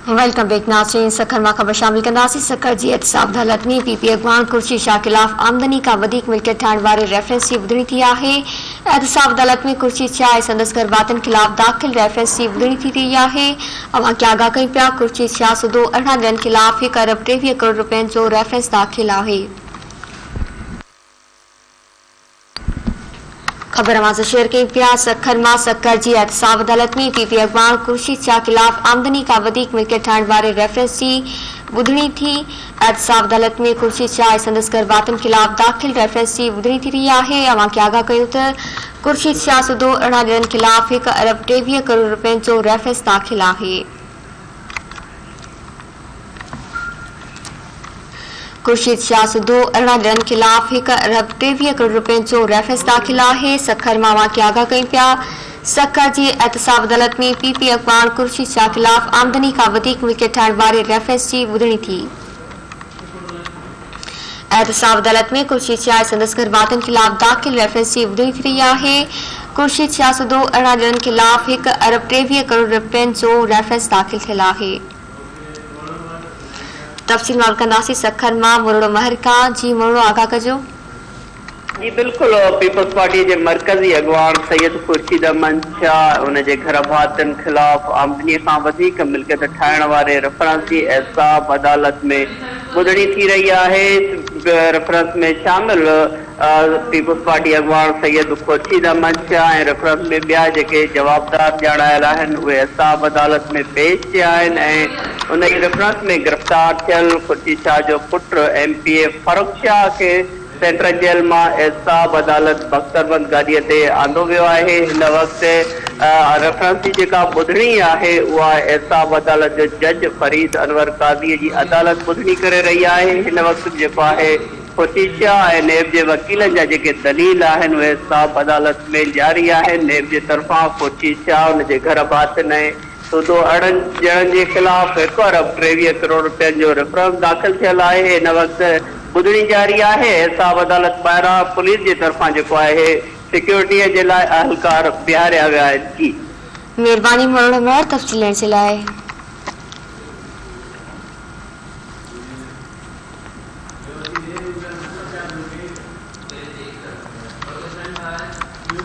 Welcome back ناظرين سکر مان خبر شامل ڪنداسين سکر جي احتساب عدالت ۾ پي پي اڳواڻ خورشيد شاهه خلاف آمدني کان وڌيڪ ملڪيت ٺاهڻ واري ريفرنس جي ٻڌڻي ٿي آهي احتساب عدالت ۾ خورشيد شاهه ۽ سندس گهرڀاتين خلاف داخل ريفرنس جي ٻڌڻي ٿي رهي آهي اوهان کي آگاهه ڪيون پيا خورشيد شاهه سوڌو ارڙهن ڄڻن خلاف هڪ ارب ٽيويهه ڪروڙ رپين جو ريفرنس داخل آهي خبر اوهان سان شيئر ڪيون پيا سکر مان سکر جي احتساب عدالت ۾ پي پي اڳواڻ خورشيد شاهه خلاف آمدني کان وڌيڪ ملڪيت ٺاهڻ واري ريفرنس جي ٻڌڻي ٿي احتساب عدالت ۾ خورشيد شاهه ۽ سندس گهر ڀاتين خلاف داخل ريفرنس جي ٻڌڻي ٿي رهي آهي اوهان کي آگاهه ڪيون ته خورشيد شاهه سوڌو ارڙهن ڄڻن خلاف هڪ ارب ٽيويهه ڪروڙ رپين جو ريفرنس داخل آهي خورشيد شاهه سڌو ارڙهن ڏينهن خلاف هڪ ارب ٽيويهه ڪروڙ رپين جو ريفرنس داخل آهي سکر مان واقعي آگاهه ڪيون پيا سکر جي احتساب عدالت ۾ پي پي اڳواڻ خورشيد شاهه خلاف آمدني کان وڌيڪ ملڪيت ٺاهڻ واري ريفرنس جي ٻڌڻي ٿي احتساب عدالت ۾ خورشيد شاهه ۽ سندس گهر واتن خلاف داخل ريفرنس جي ٻڌڻي ٿي رهي آهي. خورشيد شاهه سوڌو ارڙهن ڄڻن خلاف هڪ ارب ٽيويهه ڪروڙ رپين جو ريفرنس داخل ٿيل آهي. تفصيل مان به ڪنداسين سکر مان مروڙو مهر کان جي مروڙو آگاهه ڪجو. جي بلڪل پيپلز پارٽي جي مرڪزي اڳواڻ سيد خورشيد احمد شاهه ان جي گهرڀاتين خلاف آمدني کان وڌيڪ ملڪيت ٺاهڻ واري ريفرنس جي احتساب عدالت ۾ ٻڌڻي ٿي رهي آهي ريفرنس ۾ شامل پيپلز پارٽي اڳواڻ سيد خورشيد احمد شاهه ۽ ريفرنس ۾ ٻيا جيڪي جوابدار ڄاڻايل آهن اهي احتساب عدالت ۾ پيش ٿيا آهن ۽ ان ئي ريفرنس ۾ گرفتار ٿيل خورشيد شاهه جو پٽ M P A Farrukh Shah کي سينٽرل جيل مان احتساب عدالت بختربند گاڏيء تي آندو ويو آهي. هن وقت ريفرنس جي جيڪا ٻڌڻي آهي اها احتساب عدالت جو جج فريد انور قاضيء جي عدالت ٻڌڻي ڪري رهي آهي. هن وقت به جيڪو آهي خصيصيا ۽ نيب جي وڪيلن جا جيڪي دليل آهن اهي احتساب عدالت ۾ جاري آهن. نيب جي طرفان خصيصيا ان جي گهر ڀاتين ۽ سوڌو اڻن ڄڻن جي خلاف هڪ ارب ٽيويهه ڪروڙ رپين جو ريفرنس داخل ٿيل آهي، هن وقت ٻڌڻي جاري آهي، حساب عدالت ٻاهران پوليس جي طرفان جيڪو آهي، سيڪيورٽيء جي لاء اهلڪار بيهاريا ويا آهن، جي. مھرباني مھروڙو مھر تفصيل ڏيڻ جي لاء.